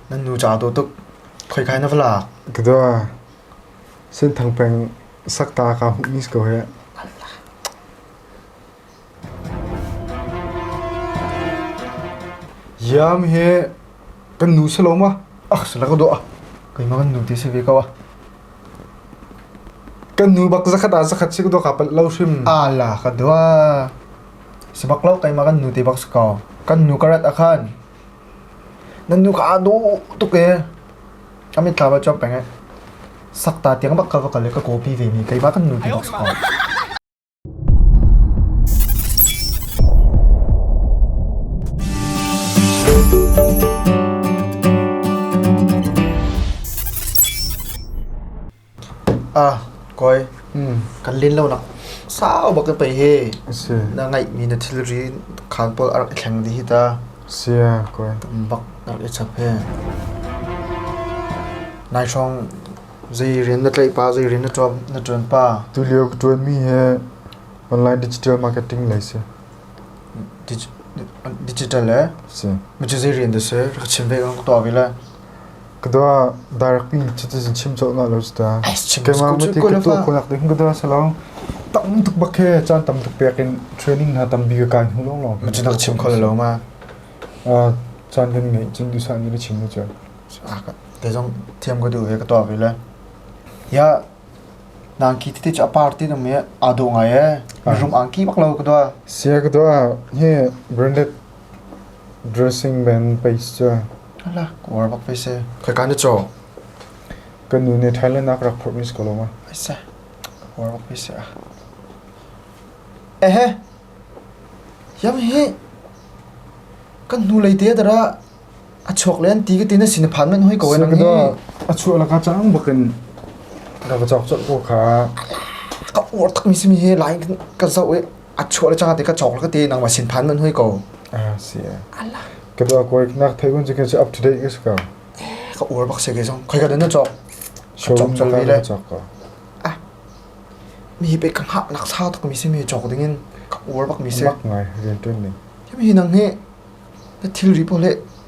Nan nu ca a daw tuk. Khoikai na va lak? Ka daw. Senthang peng sakta ka hmuhmi ko hih. Iam hi kan nu si lo ma. Ach sila ka daw ah. Keimah kan nu te si ve ko ah. Kan nu bak zakhat ah zakhat si ka daw ka palit lo hrim. Ala ka daw. Sebak lo keimah kan nu te bak si ko. Kan nu karat akhan. Nan nuka ah dawh tuk ee. A mit thla va cuap peng ee. Sakta tiang bak ka va kal i ka kawpi ve mi keima kan nu ti bak sawm. Ah kawi kan len lonak sau bak in pei hi Asi. na ngeihmi na thilri khaan pawl a rak i thleng dih hi ta Sia kawi. bak a rak i chap hi. Nai hrawng zei rian na tlaih pa zei rian na ṭuan na ṭuan pa Tulio ka ṭuan mi hi online digital marketing lei si. digi- digital eh? Si. Mi cu zei rian dah si? Rak chim ve kan ka tuah ve le. Ka dua direct mi citizen chim cawh na lo ta. Keimah mati ka tu ko nak ding ka dua sa long. Tam tuk bak he chan tam tuk pek in training na tam bi ka kan hu long long. Mu chin chim ko lo ma. Ah chan din ngai chin du sa ni ba chim mu cha. Ah ka te jong thiam ka du he ka tua bi le. Ya nang ki titi cha party na me ado ngai e. Rum ang ki bak lo ka dua. Sia ka dua he branded dressing band pace cha. Ala, kuar bak ve se. Khaika na chaw? Kan nu nih Thailand ah rak phurh mis ko lawma. Aisa, kuar bak ve se ah. Ehe, yam hi, kan nu lei te dara, a chok len ti ka tin a sinaphan man hoi ko en ni. Sagada, a chu ala ka chang bakin. Rak chok chok ko kha. Ka uar tak mi si mi he, lain kan ka zau e. a chuah le cang te ka chok le ka te nang ma sin phan man hui ko ah si ala ka do ko nak thai gun ka up to date ka ska ka ur bak se ke jong khoi ka den na chok showroom na ka na chok ko ah mi pe ka ha lak sa tak mi se mi chok ding in ka ur bak mi se mak ngai rian tun ni mi nang he na thil ri po le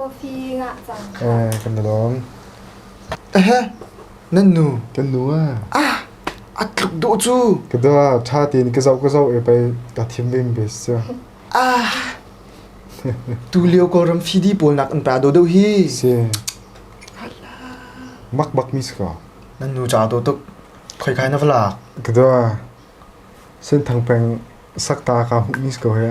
Coffee ngah caan ṭha. Kan i lawm. Nan nu. Kan nu ah. Ah! A tluk duh cu. Ka da ṭha tein ka zoh ka zoh e pei ka thim lim bes sia. Ah! Tu lio Kawlram fidi pawl nak an ta do deuh hi. Si. Mak bak mi sika. Nan nu ca do tuk. Khoi kai na va lak. Ka da. Sen thang peng sak ta ka mi sika he.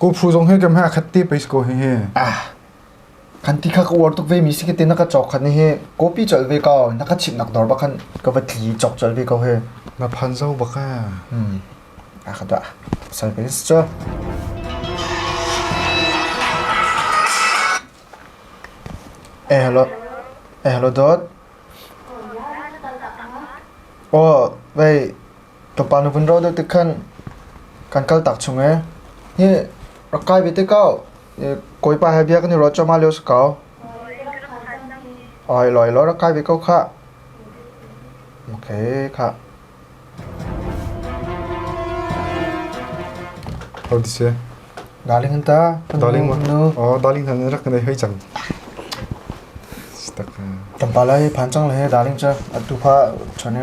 Kawphu zong hi kem he akhat te pais ko hihi. Kan ti kha ka uar tuk ve mi si ke te na ka chok khan hihi. Copy chal ve ko na ka chip nak dor ba khan ka va thli chok chal ve ko hi. Na phan zo ba ka. Akhat da. Sai pais cho. Eh hello. Eh hello dot. Oh, wait. Ka pa nu vun ro deuh tik khan kan kal tak chung ee. Hi rak kai ve te kao. Kawipa he bia kan i ruat choma leo sa kao. Oi loi lo rak kai ve ko kha. Okay kha. How this ye? Darling hanta. Darling wa. Oh darling han rak kan hei chang. Stak. Tampala hi phan chang le he darling cha atu pha chane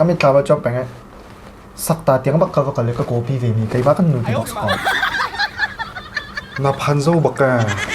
a mitthlam ah cuan peng i sakta tiang bak ka va kal i ka kawpi vemi keimah kan nu ti bak sawm. Na phan zo bak eh.